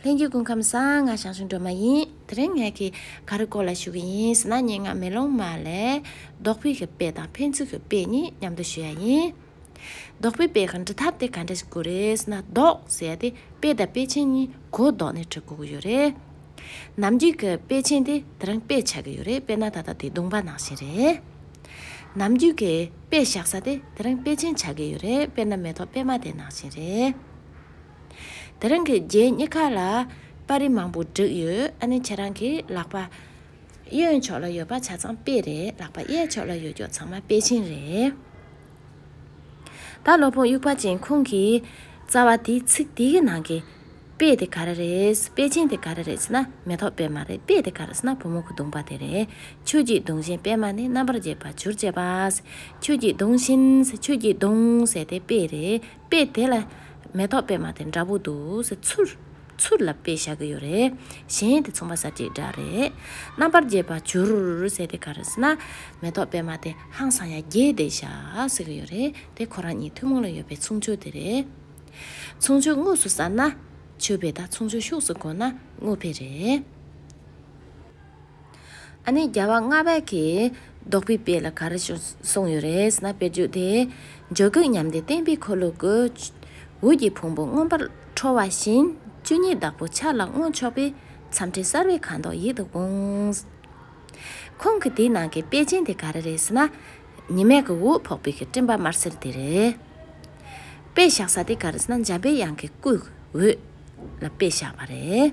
ལྷན་སྐྱེས་ཀུན་ཁམས་གསང་སྔགས་ཞང་ཞུང་སྒྲོལ་མ་ཡིན། དེ་རིང་ངས་གི་ག་རི་སྐོར་ལ་ཞུ་གི་ཡིན་ཟེར་ན་སྙན་ངག་མེ་ལོང་མ་ལས་རྡོག་པི་གི་དཔེ་དང་ཕན་ཚུན་གི་དཔེ་གཉིས་མཉམ་དུ་ཞུ་ཡ་ཡིན། རྡོག་པི་དཔེ་གི་འབྲི་ཐབས་དེ་ག་འདྲ་ཞིག་གུ་རེད་ཟེར་ན་རྡོག་ཟེར་དེ་དཔེ་དང་དཔེ་ཆེན་གཉིས་གོ་བཟློག་ནས་བྲི་གུ་གུ་ཡོད་རེད། ནམ་རྒྱུན་གི་དཔེ་ཆེན་དེ་དེ་རིང་དཔེ་ཆགས་གི་ཡོད་རེད་དཔེ་ན་ད་ལྟ་དེ་བརྡུངས་པ་ནང་བཞིན་རེད། ནམ་རྒྱུན་གི་དཔེ་བཞག་ས་དེ་དེ་རིང་དཔེ་ཆེན་ཆགས་གི་ཡོད་རེད་དཔེ་ན་མེ་ཏོག་པད་མ་དེ་ནང་བཞིན་རེད། དེ་རང་གི་རྗེས་གཉིས་ཀ་ལ་པར་རིས་མང་པོ་བསྒྲིགས་ཡོད་ཨ་ནི་ཁྱེད་རང་གི་ལག་པ་གཡོན་ཕྱོགས་ལ་ཡོད་པ་ཆ་ཚང་དཔེ་རེད་ལག་པ་གཡས་ཕྱོགས་ལ་ཡོད་རྒྱུ་ཚང་མ་དཔེ་ཆེན་རེད། ད་ལོ་བུ་དབྱུག་པ་ཅན་ཁོང་གིས་རྩ་བ་དེའི་ཚིག་དེ་གི་ནང་གི་དཔེ་དེ་ག་རེ་རེད་དཔེ་ཆེན་དེ་ག་རེ་རེད་ཟེར་ན་མེ་ཏོག་དཔེ་མ་རེད་དཔེ་དེ་ག་རེད་ཟེར་ན་བུ་མོ་ཁུ་གདུང་པ་དེ་རེད་ཆོས་ཀྱི་གདུང་ཞེན་དཔེ་མ་ནི་རྣམ་པར་འབྱེད་པ་བྱུར་བྱས་པ། ཆོས་ཀྱི་གདུང་ཞེན་ཆོས་ཀྱི་གདུང་ཟེར་དེ་དཔེ་རེད། དཔེ་དེ་ལ། མེ་ཏོག་པད་མ་དེ་འདྲ་པོ་འདུག་ཟེར། ཚུར། ཚུར་ལ་དཔེ་བཞག་གི་ཡོད་རེད། གཞན་དེ་ཚོང་པ་ཟ་བྱེད་འདྲ་རེད། རྣམ་པར་རྒྱས་པ་བྱུར་ཟེར་དེ་ག་རེ་ཟེར་ན། མེ་ཏོག་པད་མ་དེ་ཧང་སང་ཡ་རྒྱས་བསྡད་བཞག་ཟེར་གི་ཡོད་རེད་དེ་ཁོ་རང་གཉིས་ཐུན་མོང་ལ་ཡོད་པའི་ཚུང་ཆོས་དེ་རེད། ཚུང་ཆོས་དངོས་སུ་བསམ་ན། ཆོས་པས་ད་ཚུང་ཆོས་ཤུགས་སུ་བསྒོ་ན་དངོས་ཕེ་རེད། ཨ་ནེ་རྒྱལ་བ་ལྔ་བརྒྱ་གིས་རྡོག་པའི་དཔེ་ལ་ག་རེ་གསུངས་ཡོད་རེད་ན་དཔེར་བརྗོད་དེ། འཇའ་གུད་ཉམས་ཏེ་བརྟན་པའི་འཁོར་ལོ་དགུའི་འོད་ཀྱི་ཕུང་པོ་མངོན་པར་འཕྲོ་བ་བཞིན་བཅུ་གཉིས་བདག་པོ་འཆར་ལ་མངོན་ཕྱོགས་པའི་མཚམས་ཕྲལ་གསར་བའི་ཁ་དོག་ཡིད་དུ་འོང། ཁོང་གི་དེའི་ནང་གི་དཔེ་ཅན་དེ་ག་རེ་རེད་ཟེར་ན། ཉི་མས་གུ་འོད་ཕོག་པའི་སྤྲིན་པ་དམར་སེར་དེ་རེད། དཔེ་བཞག་ས་དེ་ག་རེ་ཟེར་ན་འཇམ་པའི་དབྱངས་ཀྱི་སྐུའི་འོད་ལ་དཔེ་བཞག་པ་རེད།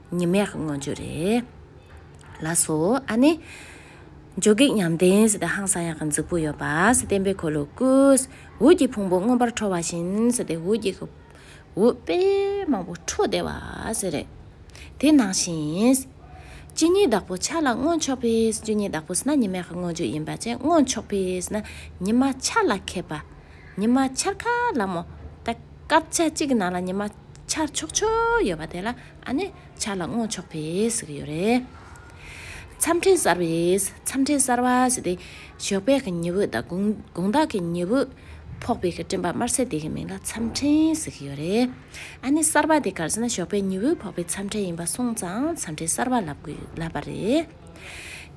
ཉི་མས་མངོན་རྒྱུ་རེད་ལགས་སོ། ཨ་ནི། འཇོ་སྒེག་ཉམས་ལྡན་ཟེར་ཏེ་ཧང་སང་ཡག་གི་འཛུགས་པོ་ཡོད་པ་བསྟན་པའི་འཁོར་ལོ་བསྐུལ། འུར་གྱི་ཕུང་པོ་མངོན་པར་འཕྲོ་བ་བཞིན་ཟེར་ཏེ་འུར་གྱི་འུར་དཔེ་མང་པོ་འཕྲོ་བདེ་བ་ཟེར་རེད། དེ་ནང་བཞིན། སྤྱི་ཉིད་བདག་པོ་ཆ་ལ་མངོན་ཆོག་པས་སྤྱི་ཉིད་བདག་པོ་ཟེར་ན་ཉི་མས་མངོན་རྒྱུ་ཡིན་པ་ཅན་མངོན་ཆོག་པས་ཟེར་ན་ཉི་མ་འཆར་ལ་མཁས་པ། ཉི་མ་འཆར་ཁ་ལ་མོ་རྟགས། སྐབས་ཆ་གཅིག་ནང་ལ་ཉི་མ་འཆར་ཆོག་ཆོག་ཡོད་པ་དེ་ལ་ཨ་ནི་འཆར་ལ་བསྔོག་ཆོག་པའི་ཟེར་གྱི་ཡོད་རེད། མཚམས་ཕྲན་གསར་བའི་མཚམས་ཕྲན་གསར་བ་ཟེར་ཏེ་ཞོགས་པའི་གི་ཉི་འོད་དང་དགོང་དག་གི་ཉི་འོད་ཕོག་པའི་གི་སྤྲིན་པ་དམར་སེར་དེ་གི་མིང་ལ་མཚམས་ཕྲན་ཟེར་གྱི་ཡོད་རེད། ཨ་ནི་གསར་བ་དེ་གར་ཟེར་ན་ཞོགས་པའི་ཉི་འོད་ཕོག་པའི་མཚམས་ཕྲན་ཡིན་པ་སོང་ཙང་མཚམས་ཕྲན་གསར་བ་ལབ་པ་རེད།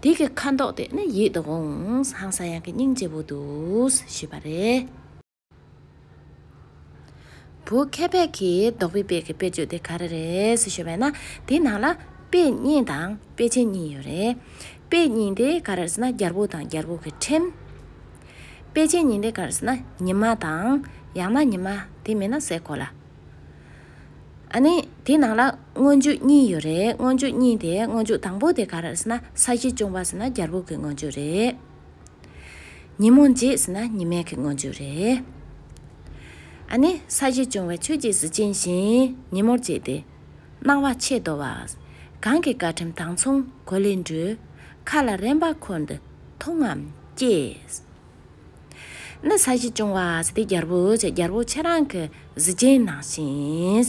དེ་གི་ཁ་མདོག་དེ་ནི་ཡིད་དུ་འོང་ཧང་ས་ཡང་གི་སྙིང་རྗེ་བོ་འདུག་ཞུས་པ་རེད། བུ་ཁ་བད་ཀྱི་རྡོག་པའི་དཔེ་གི་དཔེ་བརྗོད་དེ་ག་རེ་རེད་ཞེས་བས་ན་དེ་ནང་ལ་དཔེ་རྙིང་དང་དཔེ་ཆེན་གཉིས་ཡོད་རེད། དཔེ་རྙིང་དེ་ག་རེ་རེད་ཟེར་ན་རྒྱལ་པོ་དང་རྒྱལ་པོ་གི་ཁྲིམས། དཔེ་ཆེན་གཉིས་དེ་ག་རེ་ཟེར་ན་ཉི་མ་དང་ཡང་ན་ཉི་མ་དེ་མིན་ན་སའི་གོ་ལ། ཨ་ནི་དེ་ནང་ལ་སྔོན་འཇུག་གཉིས་ཡོད་རེད་སྔོན་འཇུག་གཉིས་དེ་སྔོན་འཇུག་དང་པོ་དེ་ག་རེ་རེད་ཟེར་ན་ས་གཞི་ཅུང་བ་ཟེར་ན་རྒྱལ་པོ་གི་སྔོན་འཇུག་རེད། ཉིན་མོ་རྗེས་ཟིན་ན་ཉི་མའི་གི་སྔོན་བྱོན་རེད། ཨ་ནི་ས་གཞི་བྱུང་བའི་ཆོས་ཀྱི་གཟི་བྱིན་བཞིན་ཉིན་མོར་བརྗེས་ཏེ། སྣང་བ་ཆེས་དོ་བ། གང་གི་བཀའ་ཁྲིམས་དང་མཚུངས་གོ་ལའི་འགྲོས། མཁའ་ལ་རེངས་པ་འཁོར་འདི་མཐོང་ངམ་སྐྱེས། ནི་ས་གཞི་བྱུང་བ་ཟི་དེ་རྒྱལ་པོ་ཆེ་རྒྱལ་པོ་ཆེ་རང་གི་གཟི་བྱིན་ནང་བཞིན།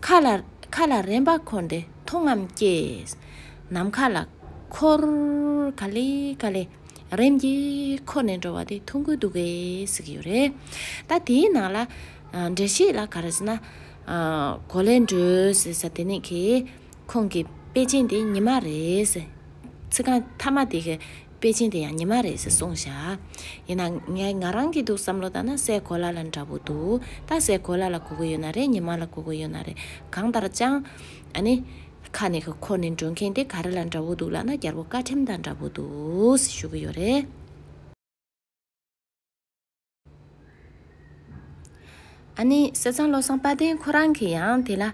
མཁའ་ལ། མཁའ་ལ་རེམ་པ་འཁོར་འདི་མཐོང་ངམ་སྐྱེས། ནམ་མཁའ་ལ། འཁོར། ག་ལི་ག་ལི། རེམ་གྱིས་འཁོར་ནས་འགྲོ་བ་དེ་མཐོང་གི་འདུག་གས་ཟེར་གྱི་ཡོད་རེད། ད་དེའི་ནང་ལ། འགྲེལ་བཤད་ལ་ག་རེ་ཟེར་ན། གོ་ལའི་འགྲོས་ཟེར་ས་དེ་ནས་ཁེ། ཁོང་གི་དཔེ་ཅན་དེ་ཉི་མ་རེད། ཚིག་རྐང་མཐའ་མ་དེ་གས་དཔེ་ཆེན་དེ་ཡང་ཉི་མ་རེད་ཟེར་གསུངས་བཞག། ཡིན་ན་ངས་ང་རང་གི་འདུག་བསམ་བློ་བཏང་ན་སའི་གོ་ལ་ལ་འདྲ་བོ་འདུག་ད་སའི་གོ་ལ་ལ་གོ་གི་ཡོད་ན་རེད་ཉི་མ་ལ་གོ་གི་ཡོད་ན་རེད་གང་ལྟར་སྤྱང། ཨ་ནི། ཁ་ནས་ཁོ་ཁོ་ནི་འགྲོ་མཁན་དེ་ག་རེ་ལ་འདྲ་བོ་འདུག་ལགས་ན་རྒྱལ་པོ་བཀའ་ཁྲིམས་དང་འདྲ་བོ་འདུག་ཞུ་གི་ཡོད་རེད། ཨ་ནི་བསོད་ཚང་བློ་བཟང་དཔལ་ལྡན་ཁོ་རང་གི་ཡང་དེ་ལ་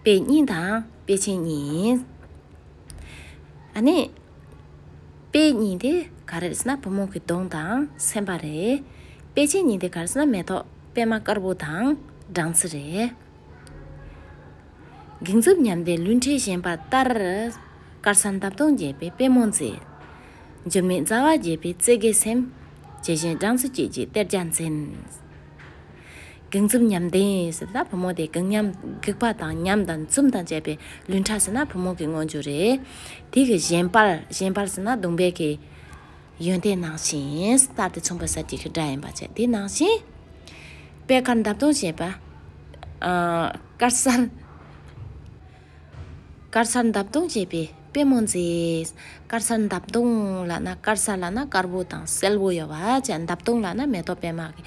དཔེ་རྙིང་དང་དཔེ་ཆེན་གཉིས་ཨ་ནི་དཔེ་རྙིང་དེ་ག་རེད་ཟེར་ན་བུ་མོ་གི་གདོང་དང་སེམས་པ་རེད་དཔེ་ཆེན་གཉིས་དེ་ག་རེད་ཟེར་ན་མེ་ཏོག་པད་མ་དཀར་པོ་དང་སྦྲང་རྩི་རེད། གིང་རྩུབ་ཉམས་ལྡན་ལུས་འཁྲེགས་ཞེན་པ་ལྟར་དཀར་ས་འདབ་སྟོང་རྒྱས་པའི་དཔེ་མོ་མཛེས། འཇིགས་མེད་རྩ་བ་རྒྱས་པའི་རྩེ་དགའི་སེམས། ཇི་བཞིན་སྦྲང་རྩི་བསྐྱེད་ཅིག་གཏེར་རྒྱ་འཛིན། གིང་འཛུམ་ཉམས་ལྡན་ཟེར་ན་བུ་མོ་དེ་གིང་ཉམས་སྒེག་པ་དང་ཉམས་དང་འཛུམ་དང་བཅས་པའི་ལུས་འཁྲ་ཟེར་ན་བུ་མོ་གི་དངོས་བརྗོད་རེད། དེ་གི་གཞན་པར་གཞན་པར་ཟེར་ན་གདུང་བས་ཀྱི། ཡོན་ཏན་ནང་བཞིན་སྟབས་དེ་མཚུངས་པ་ཟེར་གྱི་གི་སྒྲ་ཡིན་པ་བཅས་དེ་ནང་བཞིན། པད་དཀར་འདབ་སྟོང་བཞད་པ། དཀར་གསལ། དཀར་གསར་འདབ་སྟོང་བྱས་པའི་དཔེ་མོ་མཛེས། དཀར་གསར་འདབ་སྟོང་ལ་ན་དཀར་གསར་ལ་ན་དཀར་པོ་དང་སེར་པོ་ཡོད་པ་བཅས་འདབ་སྟོང་ལ་ན་མེ་ཏོག་པད་མ་གི་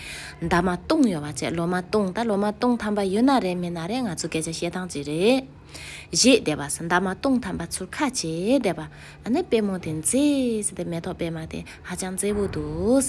འདབ་མ་སྟོང་ཡོད་པ་བཅས་ལོ་མ་སྟོང་དང་ལོ་མ་སྟོང་ཐམ་པ་ཡོད་ན་རེད་མེད་ན་རེད་ང་ཚོ་སྐད་ཆ་བཤད་སྟངས་གཅིག་རེད། གཞས་བདེ་བ་ཟེར་འདབ་མ་སྟོང་ཐམ་པ་ཚུར་ཁ་བྱས་བསྡད་པ་ཨ་ནི་དཔེ་མོ་དེ་མཛེས་ཟེར་དེ་མེ་ཏོག་པད་མ་དེ་ཧ་ཅང་མཛེས་པོ་འདུག།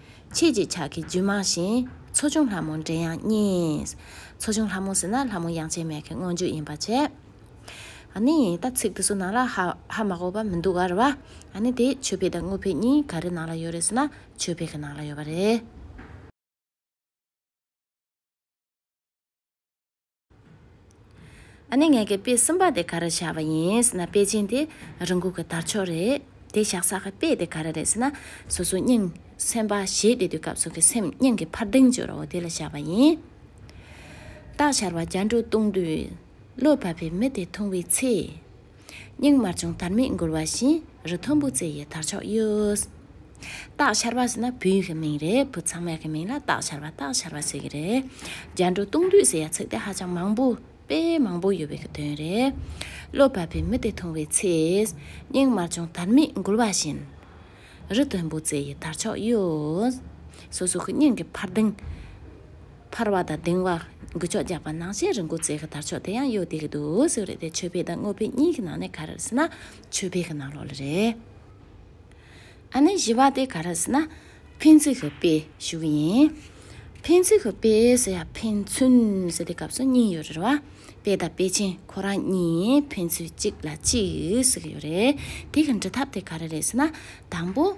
ཕྱེད་ཅིག་ཕྱག་གི་རྒྱུད་མང་ཞིང། མཚོ་བྱུང་ལྷ་མོ་འདྲེ་ཡང་སྙེགས། མཚོ་བྱུང་ལྷ་མོ་ཟེར་ན་ལྷ་མོ་ཡང་ཆེན་མེད་མཁན་སྔོན་འཇུག་ཡིན་པར་བྱས། ནི་ཡིན་ད་ཚིག་དེ་ཚོ་ནང་ལ་ཧ་ཧ་མ་གོ་བ་མི་འདུག་ག་རེད་བ། ནི་དེ་ཆོས་འཕེལ་དང་དངོས་འཕེལ་གཉིས་ག་རེ་ནང་ལ་ཡོད་རེད་ཟེར་ན་ཆོས་འཕེལ་གི་ནང་ལ་ཡོད་པ་རེད། ཨ་ནེ་ངེད་ཀྱི་དཔེ་གསུམ་པ་དེ་ག་རེ་བྱ་བ་ཡིན་ཟེར་ན་དཔེ་ཆེན་དེ་རི་འགུག་གི་དར་ཆོག་རེད། དེ་བཞག་ས་གི་དཔེ་དེ་ག་རེ་རེད་ཟེར་ན་སོ་སོའི་སྙིང། སེམས་པ་ཞེས་དེ་དུས་སྐབས་སུ་གི་སེམས་སྙིང་གི་འཕར་ལྡིང་བརྗོད་རོགས་དེ་ལ་བྱ་བ་ཡིན། སྟག་ཤར་བ་རྒྱ་འགྲོ་བཏུང་དུས། བློ་བབས་པའི་མི་དེ་འཐུང་བའི་ཚེ། སྙིང་དམར་ཆུང་དར་མས་འགུལ་བ་བཞིན་རི་མཐོན་པོ་རྩེ་ཡི་དར་ཕྱོགས་གཡོས། སྟག་ཤར་བ་ཟེར་ན་བུའི་གི་མིང་རེད་བུ་ཚང་མའི་གི་མིང་ལ་སྟག་ཤར་བ་སྟག་ཤར་བ་ཟེར་གི་རེད། རྒྱ་འབྲོག་སྟོང་འདུས་ཟེར་ཡ་ཚིག་དེ་ཧ་ཅང་མང་པོ་དཔེ་མང་པོ་ཡོད་པའི་གི་དོན་རེད། བློ་བབས་པའི་མི་དེ་མཐོང་བའི་ཚེ། སྙིང་དམར་ཆུང་དར་མས་འགུལ་བ་བཞིན། རི་མཐོན་པོ་རྩེ་ཡི་དར་ཕྱོགས་གཡོས། སོ་སོ་གི་སྙིང་གི་འཕར་ལྡིང། འཕར་བ་དང་ལྡིང་བ། འགུལ་ཕྱོགས་རྒྱག་པ་ནང་བཞིན་རི་འགོ་རྩེ་གི་དར་ཕྱོགས་དེ་ཡང་གཡོ་བསྡད་ཀྱི་འདུག་ཟེར་བ་རེད་དེ་ཆོས་འཕེལ་དང་དངོས་འཕེལ་གཉིས་ཀྱི་ནང་ནས་ག་རེར་ཟེར་ན་ཆོས་འཕེལ་གྱི་ནང་ལོགས་ལ་རེད། ཨ་ནེ་བཞི་བ་དེ་ག་རེ་ཟེར་ན་ཕན་ཚུན་གྱི་དཔེ་ཞུ་གི་ཡིན། ཕན་ཚུན་གྱི་དཔེ་ཟེར་ཡང་ཕན་ཚུན་ཟེར་དེ་སྐབས་སུ་གཉིས་ཡོད་རེད་རེད་བ། དཔེ་དང་དཔེ་ཆེན་ཁོ་རང་གཉིས་ཕན་ཚུན་གཅིག་ལ་གཅིག་ཟེར་གྱི་ཡོད་རེད་དེ་གི་འབྲི་ཐབས་དེ་ག་རེ་རེད་ཟེར་ན་དང་པོ།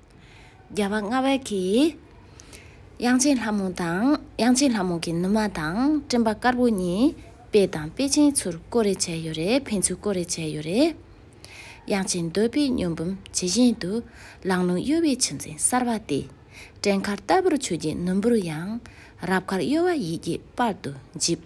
བརྒྱ་པ་ལྔ་བ་གིས། དབྱངས་ཅན་ལྷ་མོ་དང་དབྱངས་ཅན་ལྷ་མོ་གི་ནུ་མ་དང་སྤྲིན་པ་དཀར་པོ་གཉིས་དཔེ་དང་དཔེ་ཅན་ཚུར་བརྐོ་རེ་བྱས་ཡོད་རེད་ཕན་ཚུན་བརྐོ་རེ་བྱས་ཡོད་རེད། དབྱངས་ཅན་འདོད་པའི་སྨྱོ་འབུམ་ཇི་བཞིན་དུ་ལང་ལོང་གཡོ་བའི་ཆུ་འཛིན་གསར་བ་སྟེ། སྤྲིན་དཀར་ལྟ་བུར་ཆོས་ཀྱི་ནུ་འབུར་ཡང། རབ་དཀར་གཡོ་བ་ཡིད་ཀྱི་སྤར་དུ་འཇིབས།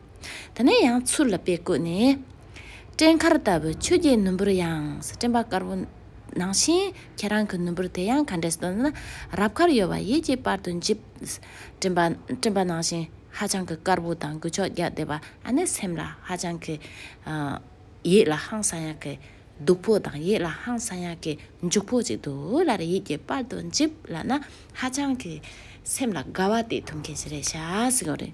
དེ་ནས་ཡང་ཚུར་ལ་དཔེ་བཀོད་ནས། སྤྲིན་དཀར་ལྟ་བུའི་ཆོས་བརྒྱད་ནུ་འབུར་ཡང་ཟེར་སྤྲིན་པ་དཀར་པོ། ནང་བཞིན་ཁྱེད་རང་གི་ནུ་འབུར་དེ་ཡང་ག་འདྲས་སུ་འདོད་ན། རབ་ཁར་ཡོད་པ་ཡིད་ཀྱི་པར་དུ་འཇིབ། སྤྲིན་པ་སྤྲིན་པ་ནང་བཞིན་ཧ་ཅང་གི་དཀར་པོ་དང་འགུལ་ཕྱོགས་རྒྱག་བདེ་བ་ཨ་ནི་སེམས་ལ་ཧ་ཅང་གི། ཡིད་ལ་ཧང་སང་ཡག་གི་སྡུག་པོ་དང་ཡིད་ལ་ཧང་སང་ཡག་གི་མཇུག་པོ་ཅིག་འདུག་ལར་ཡིད་ཀྱི་པར་དུ་འཇིབ་ལབ་ན་ཧ་ཅང་གི། སེམས་ལ་དགའ་བ་དེ་ཐོབ་མཁན་ཞིག་རེད་ཤག་ཟེར་གི་རེད།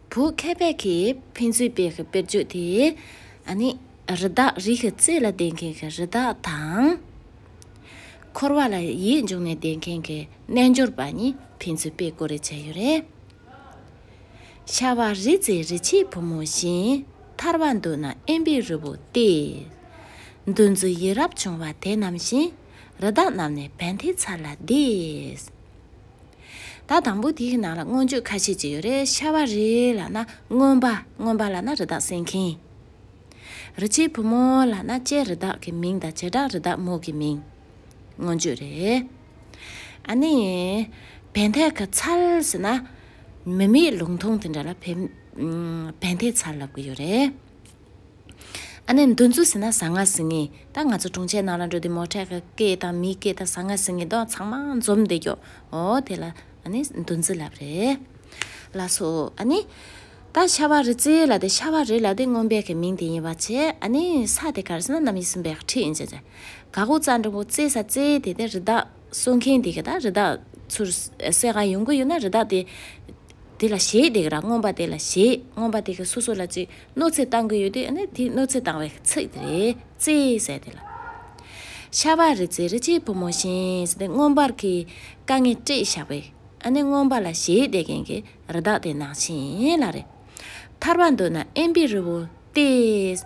བོད་མཁས་པའི་ཁེ་ཕན་རྩོད་པའི་དཔེར་བརྗོད་དེ། ནི། རི་དྭགས་རིགས་ཀྱི་རྩེ་ལ་བསྡད་མཁན་གྱི་རི་དྭགས་དང། འཁོར་བ་ལ་ཡིད་འབྱུང་ནས་བསྡད་མཁན་གྱི་རྣལ་འབྱོར་པ་གཉིས་ཕན་ཚུན་དཔེ་བཀོད་རེ་བྱས་ཡོད་རེད། ཤ་བ་རི་རྩེའི་རི་ཆེན་བུ་མོ་བཞིན་ཐར་བ་འདོད་ན་ཨེམ་པའི་རི་བོ་སྟེ། འདུ་འཛི་ཡི་རབས་བྱུང་བ་དེ་རྣམས་བཞིན་རི་དྭགས་རྣམས་ནི་བན་དྷེའི་ཚལ་ལ་བསྡད། ད་དང་པོ་དེའི་ནང་ལ་མངོན་བརྗོད་ཁ་ཤས་ཅིག་ཡོད་རེད་ཤ་བ་རི་ལ་ན་རྔོན་པ་རྔོན་པ་ལ་ན་རི་དྭགས་བསྲེགས་མཁན། རི་སྐྱེས་བུ་མོ་ལ་ན་སྐྱེས་རི་དྭགས་ཀྱི་མིང་དང་བྱེ་བྲག་རི་དྭགས་མོ་གི་མིང། མངོན་བརྗོད་རེད། ཨ་ནི། བན་དྷེ་ག་ཚལ་ཟེར་ན། མི་མེད་ལུང་ཐུང་དེ་འདྲ་ལ་བན་དྷེ་ཚལ་ལབ་གི་ཡོད་རེད། ཨ་ནེ་འདུ་འཛུ་ཟི་ན་ཟ་ང་ཟི་ངི་ད་ང་ཚོ་དྲུང་ཆེ་ནང་ལ་འགྲོ་དེ་མོ་ཁྲེ་ཁ་ཀེ་དང་མི་ཀེ་ད་ཟ་ང་ཟི་ངི་དོག་ཚང་མ་འཛོམས་དེ་གྱོ་འོ་དེ་ལ་ཨ་ནེ་འདུ་འཛི་ལབ་རེ་ལ་སོ་ཨ་ནེ། ད་ཤ་བ་རི་ཙི་ལ་དེ་ཤ་བ་རི་ལ་དེ་སྔོན་པའི་ཁའི་མིང་དེ་ཡིན་བ་ཆེ་ཨ་ནེ་ས་དེ་གར་ཟི་ན་ནམ་ཡིན་སུན་པའི་ཁྲི་ཡིན་ཆེ་ཆེ་ག་གུ་ཙ་འབྲུག་གུ་ཙི་ས་ཙི་དེ་དེ་རི་དྭགས། གསོད་མཁན་དེ་ག་ད་རི་དྭགས་ཚུར་བསད་གང་ཡོང་གི་ཡོད་ན་རི་དྭགས་དེ་དེ་ལ་ཞེད་དེ་ག་རང་རྔོན་པ་དེ་ལ་ཞེད་རྔོན་པ་དེ་ག་སོ་སོ་ལ་ཅིག་གནོད་འཚེ་བཏང་གི་ཡོད་དེ་ཨ་ན་དེ་གནོད་འཚེ་བཏང་བའི་ཚིག་དེ་རེད་ཙེ་ཟེར་དེ་ལ། ཤ་བ་རི་ཙེ་རི་ཅེའི་བུ་མོ་བཞིན་ཟེར་དེ་རྔོན་པར་གྱི་དཀའ་ངལ་སྤྲད་བཞག་པས་ཨ་ན་རྔོན་པ་ལ་ཞེད་དེ་གན་གི་རི་དྭགས་དེ་ནང་བཞིན་ལ་རེད་ཐར་བ་འདོད་ན་ཨེམ་པི་རི་བོ་སྟེ།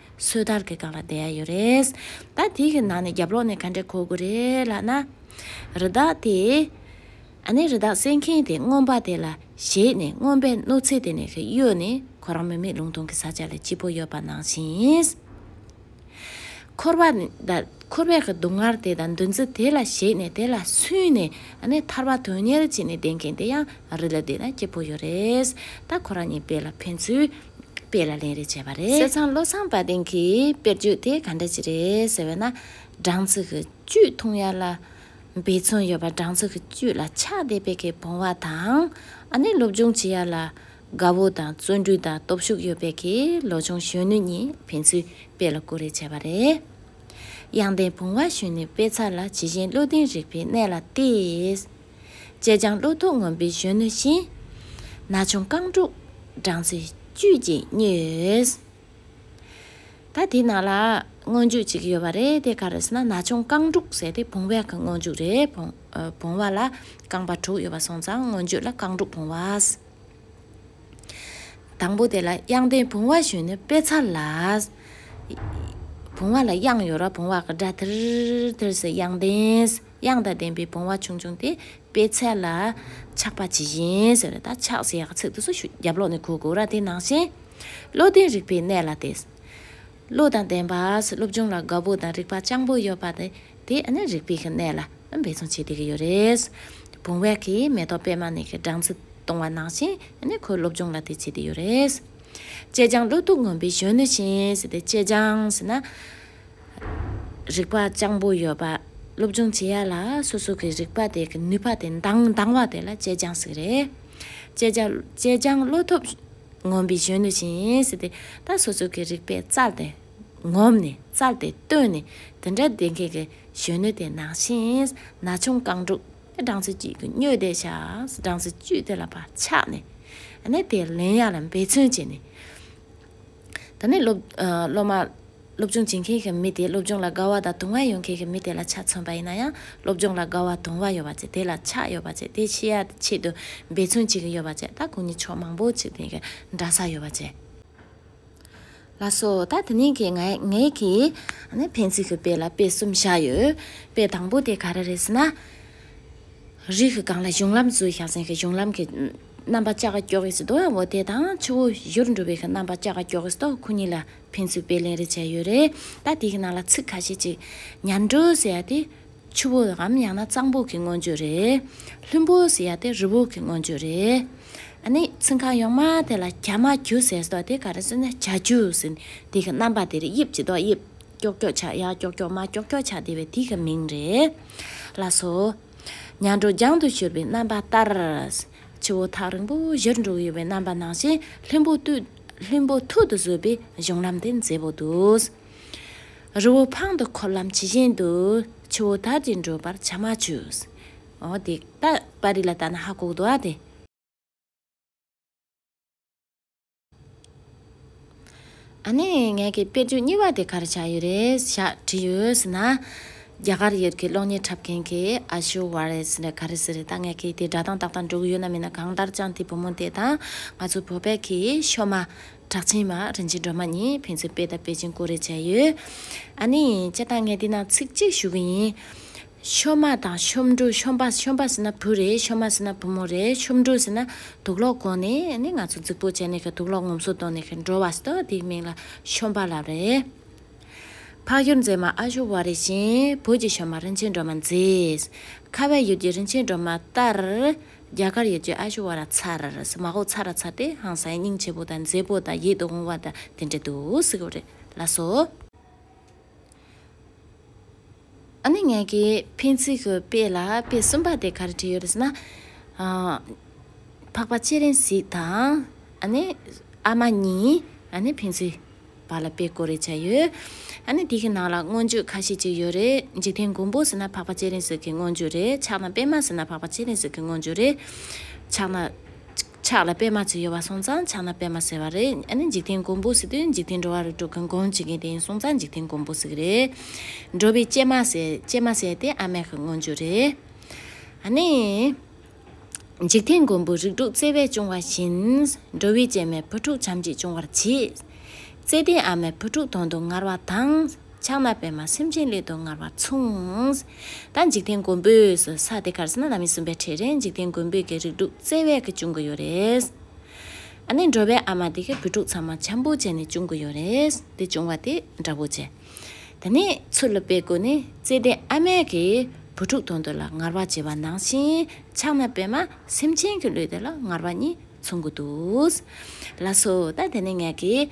སོས་དལ་གྱི་སྒང་ལ་བསྡད་ཡ་ཡོད་རེད། ད་དེ་གི་ནང་ནས་རྒྱབ་ལོག་ནས་ག་འདྲས་གོ་དགོས་རེད་ལགས་ན། རི་དྭགས་དེས། ཨ་ནེ་རི་དྭགས་བསད་མཁན་དེ་རྔོན་པ་དེ་ལ་གཞས་ནས་རྔོན་པའི་གནོད་འཚེ་དེ་ནས་གཡོལ་ནས་ཁོ་རང་མི་མེད་ལུང་སྟོང་གི་ས་ཆ་ལ་སྐྱིད་པོ་ཡོད་པ་ནང་བཞིན། འཁོར་བ་དང་འཁོར་བའི་གི་སྡུག་བསྔལ་དེ་དང་འདུ་འཛི་དེ་ལ་གཞས་ནས་དེ་ལ་སུན་ནས་ཨ་ནེ་ཐར་བ་དོན་གཉེར་བྱས་ནས་བསྡད་མཁན་དེ་ཡང་རི་ལ་བསྡད་ན་སྐྱིད་པོ་ཡོད་རེད། ད་ཁོ་རང་གཉིས་དཔེ་ལ་ཕན་ཚུལ། དཔེ་ལ་ལན་རེ་བྱས་པ་རེད། བསེ་ཚང་བློ་བཟང་དཔལ་ལྡན་གྱིས་དཔེར་བརྗོད་དེ་ག་འདྲ་ཞིག་རེད་ཟེར་བས་ན། སྦྲང་རྩི་གི་བཅུད་འཐུང་ཡ་ལ། འབད་བརྩོན་ཡོད་པ་སྦྲང་རྩི་གི་བཅུད་ལ་ཆགས་བསྡད་པའི་གི་བུང་བ་དང། ཨ་ནེ་སློབ་སྦྱོང་བྱེད་ཡ་ལ། དགའ་བོ་དང་བརྩོན་འགྲུས་དང་སྟོབས་ཤུགས་ཡོད་པའི་གི་ལོ་ཆུང་གཞོན་ནུ་གཉིས་ཕན་ཚུན་དཔེ་ལ་ཀུ་རེ་བྱས་པ་རེད། གཡང་ལྡན་བུང་བ་གཞོན་ནུའི་དཔེ་ཚགས་ལ་ཇི་བཞིན་བློ་ལྡན་རིག་པའི་གནས་ལ་བལྟས། ཅེ་སྤྱང་ཀླུ་ཐུགས་ངོམ་པའི་གཞོན་ནུ་བཞིན། ན་ཆུང་རྐང་དྲུག་སྦྲང་རྩི་བཅུད་ཀྱིས་མྱོས། ད་དེ་ནང་ལ་སྔོན་འཇུག་ཅིག་ཡོད་པ་རེད་དེ་ག་རེ་ཟེར་ན་ན་ཆུང་རྐང་དྲུག་ཟེར་ཏེ་བུང་བའི་སྔོན་འཇུག་རེད་བུང་བ་ལ་རྐང་པ་དྲུག་ཡོད་པ་སོང་ཙང་སྔོན་འཇུག་ལ་རྐང་དྲུག་བུང་བ། དང་པོ་དེ་ལ་དབྱངས་ལྡན་བུང་བ་གཞོན་ནུ་དཔེ་ཚ་ལ། བུང་བ་ལ་དབྱངས་ཡོད་ར་བུང་བ་གི་སྒྲ་ཐིར་ཐིར་ཟེར་དབྱངས་ལྡན། དབྱངས་དང་ལྡན་པའི་བུང་བ་ཆུང་ཆུང་དེ་དཔེ་ཚད་ལ་ཆགས་པ་ཇི་བཞིན་ཟེར་ན་ད་ཆགས་ཟེར་ཡག་ཚིག་ཏུ་སུ་ཞུ་རྒྱབ་ལོག་ནས་གོ་དགོས་ར་དེ་ནང་བཞིན། བློ་ལྡན་རིག་པའི་གནས་ལ་བལྟས། བློ་དང་ལྡན་པ་སློབ་སྦྱོང་ལ་དགའ་བོ་དང་རིག་པ་སྤྱང་པོ་ཡོད་པ་དེ་དེ་ནི་རིག་པའི་གནས་ལ་འབད་བརྩོན་བྱེད་དེ་གི་ཡོད་རེད། བུང་བ་གིས་མེ་ཏོག་པད་མ་ནས་གི་སྦྲང་རྩི་བཏུང་བ་ནང་བཞིན་ནི་ཁོའི་སློབ་སྦྱོང་ལ་དེ་བྱེད་དེ་ཡོད་རེད། ཅེ་སྤྱང་བློ་སྟུག་ངོམ་པའི་གཞོན་ནུ་བཞིན་ཟེར་ཏེ་ཅེ་སྤྱང་ཟེར་ན། རིག་པ་སྤྱང་པོ་ཡོད་པ་སློབ་སྦྱོང་བྱེད་ཡ་ལ་སོ་སོ་གི་རིག་པ་དེ་གི་ནུས་པ་དེ་འདང་འདང་བ་དེ་ལ་སྤྱད་སྦྱང་ཟིག་རེད། སྤྱད་སྦྱང་སྤྱད་སྦྱང་བློ་ཐོབ་ངོམ་པའི་གཞོན་ནུ་ཞིག་ཡིན་ཟིག་དེ་ད་སོ་སོ་གི་རིག་པའི་རྩལ་དེ་ངོམ་ནས་རྩལ་དེ་བཏོན་ནས་དེ་འདྲ་བསྡད་མཁན་གི་གཞོན་ནུ་དེ་ནང་བཞིན་ན་ཆུང་རྐང་དྲུག་དེ་སྦྲང་རྩི་བཅུད་ཀྱི་སྨྱོས་དེ་ཤ་སྦྲང་རྩི་བཅུད་དེ་ལ་བ་ཆགས་ནས་ནས་དེ་ལེན་ཡ་ལ་འབད་བརྩོན་བྱས་ནས། ད་ནི་སློབ་མ། སློབ་སྦྱོང་བྱེད་མཁན་གྱི་མི་དེས་སློབ་སྦྱོང་ལ་དགའ་བ་དང་དུང་བ་ཡོད་མཁན་གྱི་མི་དེ་ལ་ཆ་མཚོན་པ་ཡིན་ན་ཡང་སློབ་སྦྱོང་ལ་དགའ་བ་དུང་བ་ཡོད་པ་བཅས་དེ་ལ་ཆ་ཡོད་པ་བཅས་དེ་ཤེས་ཡ་ཆེད་དུ་འབད་བརྩོན་བྱེད་ཀྱི་ཡོད་པ་བཅས་ད་གུས་ནི་ཕྱོགས་མང་པོ་ཆེ་དེ་གའི་འདྲ་ས་ཡོད་པ་བཅས། ལ་སོགས་ད་དེ་ནི་གྱི་ངའི་གི། ནི་ཕན་ཚུན་གྱི་དཔེ་ལ་དཔེ་གསུམ་བཞག་ཡོད། དཔེ་དང་པོ་དེ་ག་རེ་རེད་ཟེར་ན། རིགས་གང་ལ་གཞུང་ལམ་བཟོས་ཤག་ཟེར་གྱི་གཞུང་ལམ་གྱི། རྣམ་པ་ཅག་ཀྱོག་གིས་བཟློག་ཡང་བོ་དེ་དང་ཆུ་བོ་བཞུར་འགྲོ་བའི་རྣམ་པ་ཅག་ཀྱོག་གིས་བཟློག་ཁོ་གཉིས་ལ་ཕན་ཚུན་དཔེ་ལེན་རེ་བྱས་ཡོད་རེད་ད་དེ་གི་ནང་ལ་ཚིག་ཁ་ཤས་ཅིག་ཉར་འགྲོ་ཟེར་ཡ་དེ། ཆུ་བོ་འམ་ཡང་ན་གཙང་པོ་གི་མངོན་བརྗོད་རེད། ལྷུན་པོ་ཟེར་ཡ་དེ་རི་བོ་གི་མངོན་བརྗོད་རེད། ཨ་ནི་ཚིག་ཁ་ཡོངས་མ་དེ་ལ་གྱ་མ་གྱུ་ཟེར་བཟློག་དེ་ག་རེ་བཟོས་ན་གྱ་གྱུ་ཟེར་དེ་གི་རྣམ་པ་དེ་རེད་དབྱིབས་ཀྱི་བཟློག་དབྱིབས་ཀྱོག་ཀྱོག་ཆག་ཡ་ཀྱོག་ཀྱོག་མ་ཀྱོག་ཀྱོག་ཆག་དེ་བས་དེ་གི་མིང་རེད། ལ་སོ། མྱང་གྲོ་རྒྱང་དུ་གྱུར་པའི་རྣམ་པ་ལྟར། ཆུ་བོ་ཐག་རིང་པོ་བཞིར་འགྲོ་ཡི་བའི་རྣམ་པ་ནང་བཞིན་ལྷུན་པོ་ལྷུན་པོ་ཐུར་དུ་བཟོས་པའི་གཞུང་ལམ་དེ་མཛེས་པོ་འདུག། རི་བོ་འཕང་དུ་འཁོར་ལམ་ཇི་བཞིན་དུ། ཆུ་བོ་དར་གྱིས་འགྲོ་བར་བྱ་མ་བྱོས། འོ་དེ་ད་པར་རིས་ལ་བལྟ་ན་ཧ་གོ་གདོང་བ་དེ། ཨ་ནེ། ངེད་ཀྱི་དཔེར་བརྗོད་གཉིས་པ་དེ་གར་བྱ་ཡི་རེད་ཤག་དྲིས་ཡོད་ཟེར་ན། རྒྱ་གར་ཡུལ་གྱི་གློག་བརྙན་འཁྲབ་མཁན་གྱིས་ཨ་ཞོ་བ་རེད་ཟེར་ནས་ག་རེ་ཟེར་རེད་ད་ངེད་ཀྱིས་དེ་སྒྲ་གདངས་ཏག་ཏག་འགྲོ་གི་ཡོད་ན་མིན་ན་གང་ལྟར་ཅང་ཏེའི་བུ་མོ་དེ་དང་ང་ཚོའི་བོད་པའི་གི་ཤོ་མ། གྲགས་ཆེན་མ་རིན་ཆེན་སྒྲོལ་མ་གཉིས་ཕན་ཚུན་དཔེ་དང་དཔེ་ཅན་ཀུ་རེ་བྱས་ཡོད། ཨ་ནེ། ཁྱེད་དང་ངེད་འདི་ན་ཚིག་གཅིག་ཞུ་གི་ཡིན། ཤོམ་མ་དང་ཤོམ་འབྲུག་ཤོམ་པ་ཤོམ་པ་ཟེར་ན་བུ་རེད་ཤོམ་མ་ཟེར་ན་བུ་མོ་རེད་ཤོམ་འབྲུག་ཟེར་ན་དུག་ལོག་གོང་ནས་ནི་ང་ཚོ་རྫིག་པོ་བྱས་ནས་དུག་ལོག་ངོམ་སོ་གཏོང་ནས་འགྲོ་བ་སྟོ་དེའི་མིང་ལ་ཤོམ་པ་ལབ་རེད། འཕགས་ཡུལ་མཛེས་མ་ཨ་ཞོ་བ་རེ་བཞིན་བོད་ཀྱི་ཤོམ་མ་རིན་ཆེན་སྒྲོལ་མ་མཛེས། ཁ་བའི་ཡུལ་གྱི་རིན་ཆེན་སྒྲོལ་མ་ཏར། རྒྱ་གར་ཡུལ་གྱི་ཨ་ཞོ་བ་ར་ཚ་ར་ར་མ་ཧོ་ཚ་ར་ཚ་སྟེ་ཧང་སངས་སྙིང་རྗེ་བོ་དང་མཛེས་པོ་དང་ཡིད་དུ་འོང་བ་དང་དེ་འདྲ་འདུག་སྲིད་གོ་རེ་ལ་སོ། ཨ་ནི་ངེད་ཀྱིས་ཕན་ཚུན་གྱི་དཔེ་ལ་དཔེ་གསུམ་པ་དེ་ག་རེ་བྲིས་ཡོད་རེད་ཟེར་ན། འཕགས་པ་ཆེ་རིང་ཞིག་དང། ཨ་ནི་ཨ་མ་གཉིས། ཨ་ནི་ཕན་ཚུན་བར་ལ་དཔེ་གོ་རེ་བྱས་ཡོད། ཨ་ནི་དེའི་ནང་ལ་མངོན་བརྗོད་ཁ་ཤས་ཅིག་ཡོད་རེད། འཇིག་རྟེན་མགོན་པོ་ཟེར་ན་འཕགས་པ་ཆེ་རིང་ཟེར་གྱི་མངོན་བརྗོད་རེད། ཕྱག་ན་པད་མ་ཟེར་ན་འཕགས་པ་ཆེ་རིང་ཟེར་གྱི་མངོན་བརྗོད་རེད། ཕྱག་ན། ཕྱག་ལ་པད་མ་ཚོས་ཡོད་པ་སོང་ཙང་ཕྱག་ན་པད་མ་ཟེར་བ་རེད་ཨ་ནི་འཇིག་རྟེན་མགོན་པོ་ཟེར་དུས་འཇིག་རྟེན་འགྲོ་བ་རུ་འགྲོ་མཁན་གང་བྱེད་མཁན་དེ་ཡིན་སོང་ཙང་འཇིག་རྟེན་མགོན་པོ་ཟེར་གི་རེད། འགྲོ་བའི་སྐྱེལ་མ་ཟེར་སྐྱེལ་མ་ཟེར་དེ་ཨ་མས་གི་སྔོན་ཇུག་རེད། ཨ་ནི། འཇིག་རྟེན་མགོན་པོ་རིགས་དྲུག་བརྩེ་བས་སྐྱོང་བ་བཞིན། འགྲོ་བའི་སྐྱེལ་མས་བུ་ཕྲུག་བྱམས་ཀྱིས་སྐྱོང་བར་བྱེད། བརྩེ་ལྡན་ཨ་མས་བུ་ཕྲུག་དོན་དུ་ངར་བ་དང། ཕྱག་ན་པདྨ་སེམས་ཅན་སླད་དུ་སྔར་བར་མཚུངས། ད་འཇིག་རྟེན་མགོན་པོས་སུ་ས་དེ་གར་སེམས་ན་ལ་མི་སྲུན་པའི་ཁྲིད་རན་འཇིག་རྟེན་མགོན་པོས་ཀྱི་རིགས་དྲུག་བརྩེ་བས་ཀྱི་བྱུང་གི་ཡོད་རེད། ཨ་ནི་འགྲོ་བའི་ཨ་མ་དེ་གི་བུ་ཕྲུག་ཚང་མ་འཆམ་པོ་བྱས་ནས་བྱུང་གི་ཡོད་རེད་དེ་བྱུང་བ་དེ་འདྲ་བོ་བྱས། ད་ནི་ཚུར་ལ་པའི་གོ་ནི་བརྩེ་ལྡན་ཨ་མས་ཀྱི་བུ་ཕྲུག་དོན་དུ་ལ་སྔར་བར་བྱས་པ་ནང་བཞིན་ཕྱག་ན་པདྨ་སེམས་ཅན་གྱི་སླད་དུ་ལ་སྔར་བར་གཉིས་མཚུངས་གི་འདུག་ལགས་སོ་ད་དེ་ནི་ངས་ཀྱི།